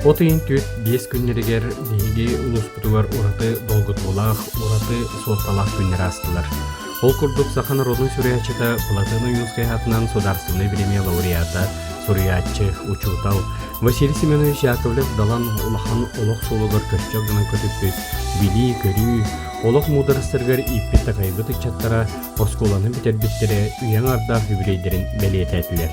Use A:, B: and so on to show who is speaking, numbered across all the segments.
A: От ыйын түөрт биэс күннэригэр биһиги улууспутугар ураты долгутуулаах, ураты суолталаах күннэр аастылар. Ол курдук саха норуотун суруйааччыта Платон Уюлскай аатынан судаарыстыбынай бириэмийэ лауреата, суруйааччы, учуутал Василий Семенович Яковлев далан улахан олох суолугар көстөх гынан көтүппүт, билии-көрүү, олох муударастарыгар ииппит-такайбыт ыччаттара оскуоланы бүтэрбиттэрэ үйэҥ ардаах юбилейдэрин бэлиэтээтилэр.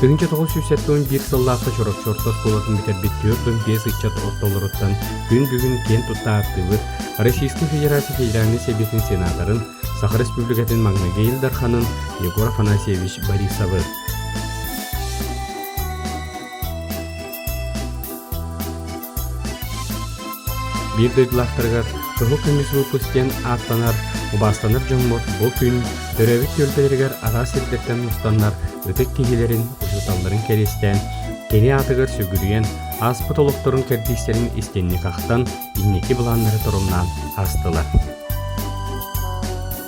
A: Тыһыынча тоҕус сүүс сэттэ уон биир сыллаахта Чороччортор куолатын бүтэрбит түөрт уон биэс ыччат ортолоруттан күн бүгүн киэн тутта ааттыыбыт Российскай Федерация Федеральнай Сэбиэтин сенаторын, Саха Республикатын маҥнайгы Ил Дарханын Егор Афанасьевич Борисовы. Биир дойдулаахтарыгар Туһу көмүс выпуск диэн ааттанар убаастанар дьоммут бу күн төрөөбүт түөлбэлэригэр араас сирдэртэн мустаннар ытык киһилэрин учууталларын кэриэстээн кини аатыгар сүгүрүйэн ааспыт олохторун кэрдиистэрин истинник ахтан инники былааннары торумнаан астылар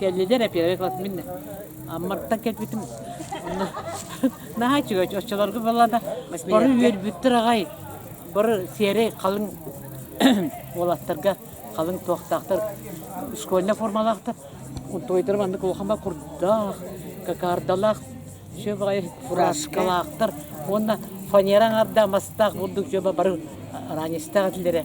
B: Кэллилэр эпиэрэ мин Амматтан кэлбитим. Наһаа үчүгэй оччолорго баллада бары үөрбүттэр аҕай бары сиэри халыҥ уолаттарга халыҥ туохтаахтар школьный формалаахтар унтуойдары маннык улахама курдаах какардалаах все баҕайы фураскалаахтар уонна фанера аҥардаах мастаах бурдук дьоба бары араанистаах этилэрэ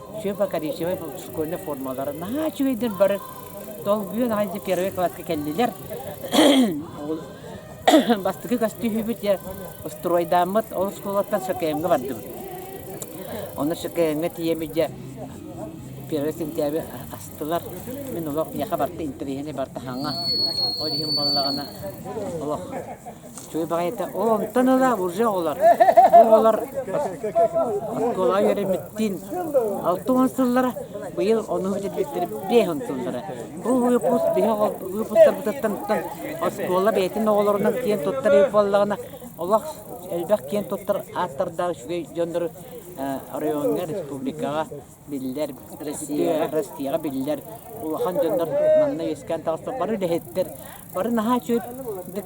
B: все покоричевай школьнай формалара наһаа үчүгэйдэр бары долгуйа наһайда первый класска кэллилэр бастакы көстүүһүбүт я устройдааммыт ол оскуолаттан шокеемҥа бардыбыт оны шокеемҥа тиийэми дьэ первый сентябрь астылар мин олох миэхэ барта интэриэһинэй барта хаҥа ол иһин буоллаҕына олох Чуй баҕайыта, оо, онтон ыла уже оҕолор. Бу оҕолор оскуолаҕа үөрэммиттиин алта уон сыллара, быйыл ону бүтэрбиттэр биэс он сыллара. Бу выпуск биһig выпустарбытыттан тутан оскуола бэйэтин оҕолорунан киэн туттар үп буоллаҕына, олох элбэх киэн туттар ааттардаах үчүгэй дьоннору оройуоҥҥа, республикаҕа биллэр, Россияҕа биллэр улахан дьоннор манна үөскээн таҕыста. Бары үлэһиттэр, бары наһаа чүрдик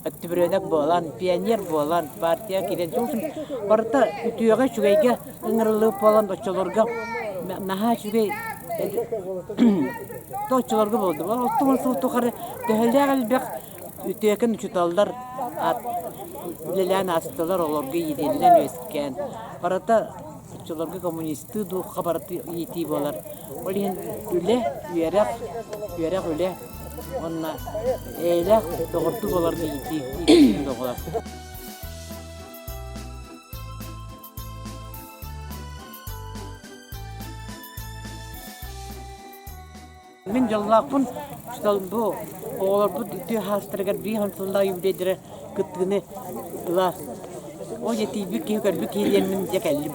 B: өттүбүрүөнок буолан, пионер буолан, партия киирэн, барыта үтүөҕэ, үчүгэйгэ ыҥырыллыбыт буолан оччолорго наһаа үчүгэй то оччолорго болды. Оттон сыл тухары төһөлөөх элбэх Үтүөкэн учууталлар үлэлээн аастылар олорго иитиллэн үөскээн барыта оччолорго коммунистыы духха барыта иитии буолар ол иһин үлэ үөрэх үөрэх үлэ уонна эйэлээх доҕордуу буоларга иитии иитии доҕолор Мин дьаллаахпын бу оҕолорбут тыа хаастарыгар биир хансылла үбүлэйдэрэ кыттыыны ыла ол етийбит киһи көрбүт киһи диэммин дьэ кэллим.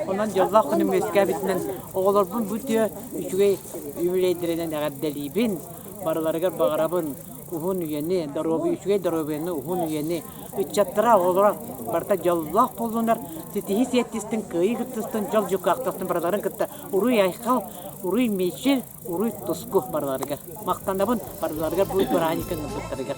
B: Онон дьоллоох күнүм үөскээбитинэн оҕолорбун бу тыа үчүгэй үбүлэйдэринэн эҕэрдэлиибин, барыларыгар баҕарабын. уһун үйэни, доруобуйа, үчүгэй доруобуйаны, уһун үйэни, ыччаттара, оҕолоро барыта дьоллоох буоллунар, ситиһии сиэттистин, кыайыы кыттыстын, дьол дьукаахтастын барыларын кытта уруй айхал, уруй мичил, уруй туску барыларыгар. Махтанабын барыларыгар бу бырааһынньыкын ылбыттарыгар.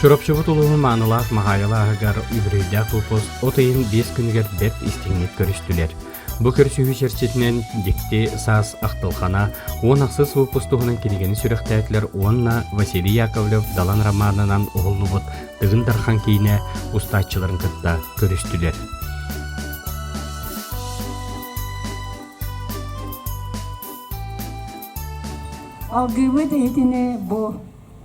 A: Чурапчыбыт улууһун маанылаах Маһаайала аһыгар үбүлүөйдээх колхоз от ыйын биэс күнүгэр бэрт истиҥник көрүстүлэр. Бу көрсүһүү чэрчитинэн дьикти саас ахтылхана уон ахсыс выпуск туһунан кинигэни сүрэхтээтилэр уонна Василий Яковлев Далан романынан уһуллубут Тыгын Дархан киинэ устааччыларын кытта көрүстүлэр.
C: Алгыыбыт иһитини бу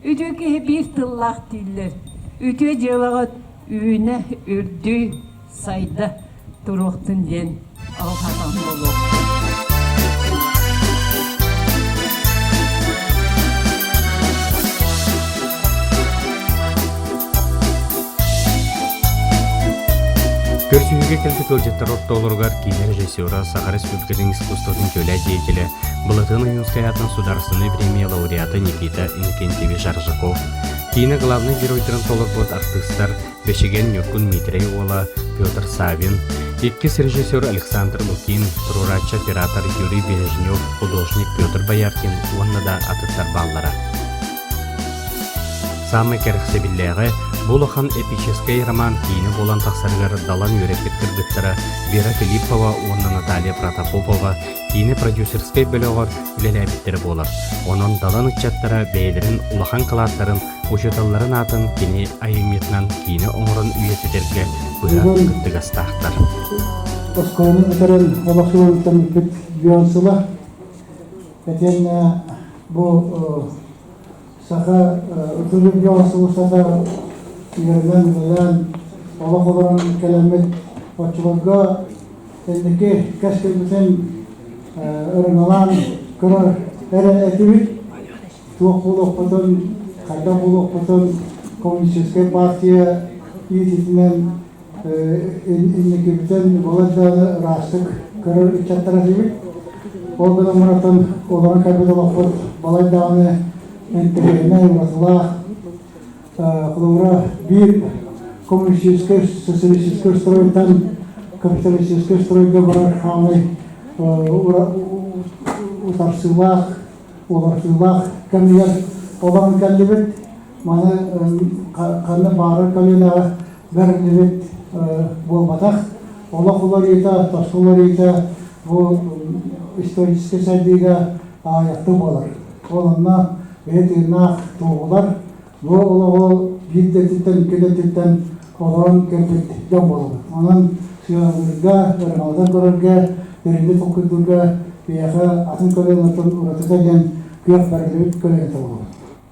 C: Үтүө киһи биир тыллаах дииллэр. Үтүө дьыалаҕыт үүнэ, үрдүү, сайда туруохтун диэн алҕанан буолуохтун.
A: Көрсүһүүгэ кэлбит ыалдьыттар ортолоругар киинэ режиссера Саха Республикатын искусствотын дьүөлэ деятеля Былатыан Ойуунускайаатын судаарыстыбаннай премия лауреата Никита Инкентьевич-Аржаков, киинэ главнай геройдарын толорбут артыыстар Бэчигэн Ньургун Миитэрэй уола Петр Савин, иккис режиссер Александр Лукин, туруорааччы-оператор Юрий Бережнев, художник Петр Бояркин уонна да атыттар бааллара. Саамай кэрэхсэбиллээҕэ бу улахан эпическэй роман киинэ буолан тахсарыгар далан үөрэппит кыргыттара Вера Филиппова уонна Наталья Протопопова киинэ продюсерскай бөлөҕөр үлэлээбиттэрэ буолар. Онон Далан ыччаттара бэйэлэрин улахан кылааттарын, учууталларын аатын кини айымньытынан киинэ оҥорон үйэтитэргэ быһан кыттыгастаахтар. Оскуоланы
D: бүтэрэн олох үөрүтэммиппит Бейонсула итиэннэ бу Саха ытырыыга сулусата үөрэнэн-үлэлээн олох олорон кэлэммит оччолорго инники кэскилбитин ырыҥалаан көрөр эрэ этибит туох буолуохпутун хайдах буолуохпутун коммунистическай партия иититинэн инникитин булар да ыраастык көрөр ыччаттар этибит. Ол гынан барытын олорон кэлбит олохпут балай даҕаны интегрированная, уратылаах. Холобура, биир коммунистическай, социалистическай устройдан капиталистическай устройга барар хаалай утарсыылаах, уларсыылаах кэмигэр олорон кэллибит. маны ханна баарар көлүөнэҕэ бэриллибит буолбатах. Олох уларыыта, тосу уларыыта бу историческай сайдыыга аайахты буолар. Ононна бэйэ тыыннаах туоһулар бу олоҕу биир да өттүттэн икки да өттүттэн олорон кэлбиттэн буолар. Онон сыаналыырга, ырымалата көрөргө, дириҥҥэ толкуйдуурга биһиэхэ атын көлүөнэттэн уратыта диэн күөх бэрилибит көлүөнэ буолар.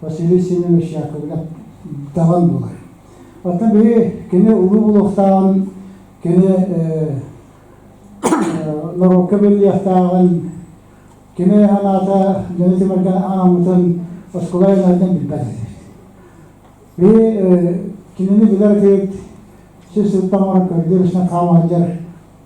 D: Василий Семенович Яковлев даҕан буолар. Оттон биһи кини улуу олохтааҕын, кини норуокка биллиэхтээҕин, кини анаата дьону тимиргэн ааммытын оскуола айаннарыттан билбэт этэ. Биһи кинини билэр киһит сис сылтан көрдүү бишнен хаамаадьар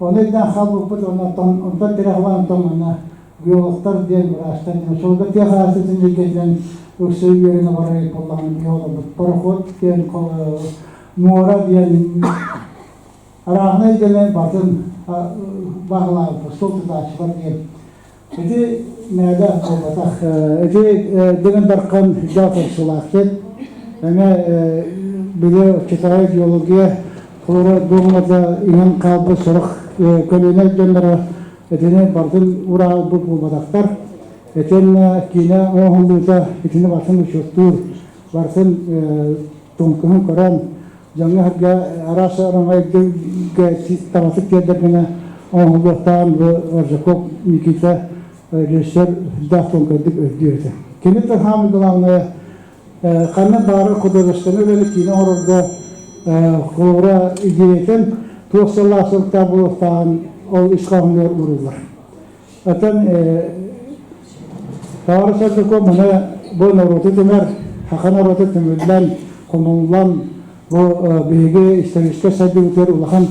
D: Ол өйдөөн хаалбыппыт уонна тоҥ, онтон тирэхбин тоҥуна биологтар диэн врачтар диэн солга тыах аастытын илгэтинэн өксө үөрүн обарай буллаҕын тыа олорбут пароход диэн муора диэн арааһына илгэнэн батын баһылаабыппыт сол тутааччылар диэн Ити наада буолбатах. Ити Дирин Дархан дьал турсулаахтык, эҥэ били Китай геология холоро дуомада иҥэн хаалбыт сорох көлүөнэ дьонноро этини бартын ураалбыт буолбатахтар. Этин киинэ оҥоһуллуута итини бартын учуоттуур, бартын тумкуһун көрөн, дьоҥҥо сэргэ араас араҥайга табатык тиэрдэргинэ оҥоһулуохтаан бу Оржаков Никита режиссер даах тумкайдык өйдүө этэ. Кини тылхаамы главное ханна баары художественный үлэни киинэ оҥорорго холобура идеятын туох салаа сылтаа буолуохтааҕын ол ис хоһоонугар ууруллар. Атын Таара Сардыко мана бу норуоту түмэр, хакан норуоту түмүллэн, хомуллан, бу биһиги историческай сайдыбытыгар улахан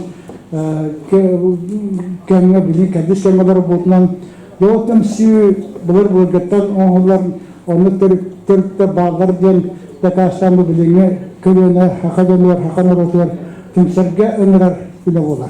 D: кэмҥэ билин кэрдис кэмҥэ олорбутунан Доҕоттум сүү былыр былыргыттан оҥоһуллар оннук төрүттэ бааллар диэн дакаастаан бу билиҥҥи көлүөнэ хака дьонугар хака норуотугар түмсэргэ ыҥырар үлэ буолар.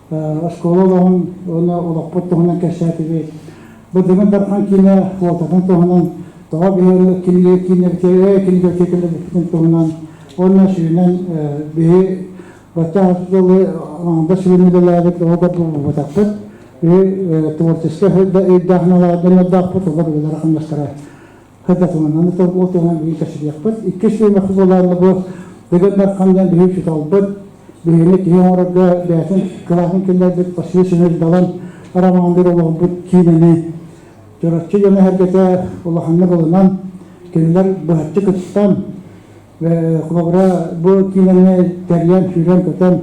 D: оскуола олоҕун уонна олохпут туһунан кэпсээтибит. Быдыгын Дархан киинэ куотатын туһунан, тоҕо биһиги кинилэргэ кэлбиппитин туһунан уонна сүүнэн биһи бачча дылы да сүрүн үлэлээбит оҕо булбутахпыт. Биһи творческай өйдөөх-саналардан өрдөөхпут олор үлэлэр хамнастара Кэтэтиминэн торгуотуһан бүгүн кэсилиэхпит. Икки сиэмэ хузалаалла бу дыгыннар хандан биһи чуталбыт, биһини киһи оҥорорго бээтин кылаатын кэннэрбит Василий Семенович Далан Арамаандар олоҕурбут киинэни Чороччу дьоно эргэтэ улаханнык ылынан, кинилэр быһаччы кыттан, холобура бу киинэни тэрийэн сүүрэн көтөн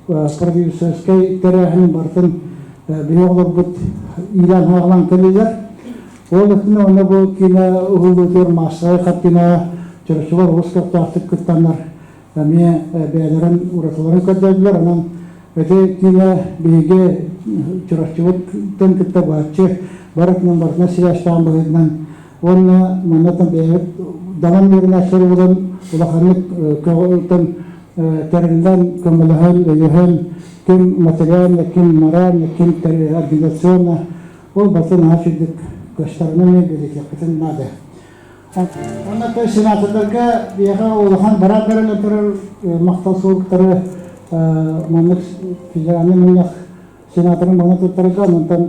D: продюсерскай тэрээһин барытын били олорбут иилэн хаалан кэлилэр ол өттүнэ онно бу киинэ уһуллуутугар маастарай хартина чөрөчүлэр олус көхтөөхтүк кыттаннар эмиэ бэйэлэрин уратыларын көрдөрдүлэр онон эти киинэ биһиги чураччыбыттан кытта баччы барытынан барытынан сибээстээн быһыытынан уонна манна даван үөрүнэ соругун улаханнык көҕүтэн тэриллэн көмөлөһөн өйөһөн ким материальна ким моральна ким организационно ол бастан аһа сүрдүк көстөрүнэн билетеккитин наада Онна той сенаторларга биэҕэ улахан бараа баран отырар мақтал суолтары маннык федеральный мунньах сенаторын мана туттарга онтон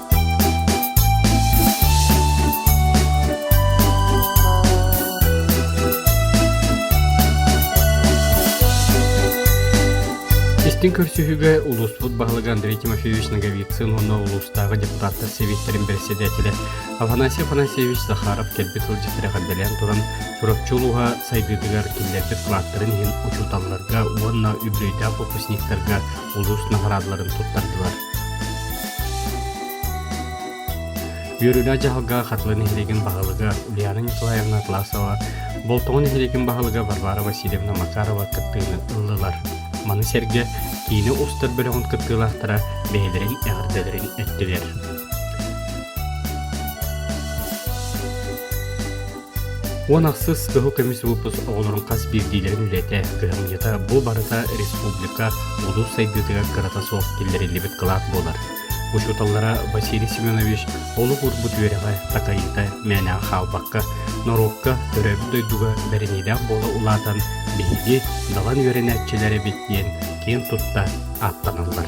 A: Истин көрсүһүүгэ улууспут баһылыгы Андрей Тимофеевич Ноговицын уонна улуустааҕы депутаттар сэбиэттэрин бэрэссэдээтэлэ Афанасий Афанасьевич Захаров кэлбит сылдьыт тирэхэрдэлээн туран Чурапчы улууһа сайдыытыгар киллэрбит кылааттарын иһин учууталларга уонна үбүлүөйдээх выпускниктарга улуус наҕараадаларын туттардылар. Үөрүүлээх дьаһалга Хатылы нэһилиэгин баһылыга Ульяна Николаевна Атласова, Болтоҕо нэһилиэгин баһылыга Варвара Васильевна Макарова кыттыыны ыллылар. Маны сэргэ киинэ устар бөлөҕүн кыттыылаахтара бэйэлэрин эҕэрдэлэрин эттилэр. Уон ахсыс кыһыл көмүс выпуск оҕолорун хас биирдиилэрин үлэтэ, кыһамньыта бу барыта республика, улус сайдыытыгар кырата суох киллэриллибит кылаат буолар. Учууталлара Василий Семенович олох урбут үөрэҕэ, такайыыта мээнэҕэ хаалбакка, норуокка, төрөөбүт дойдуга бэриниилээх буола улаатан, биһиги далан үөрэнээччилэр эбит диэн киэн тутта ааттаналлар.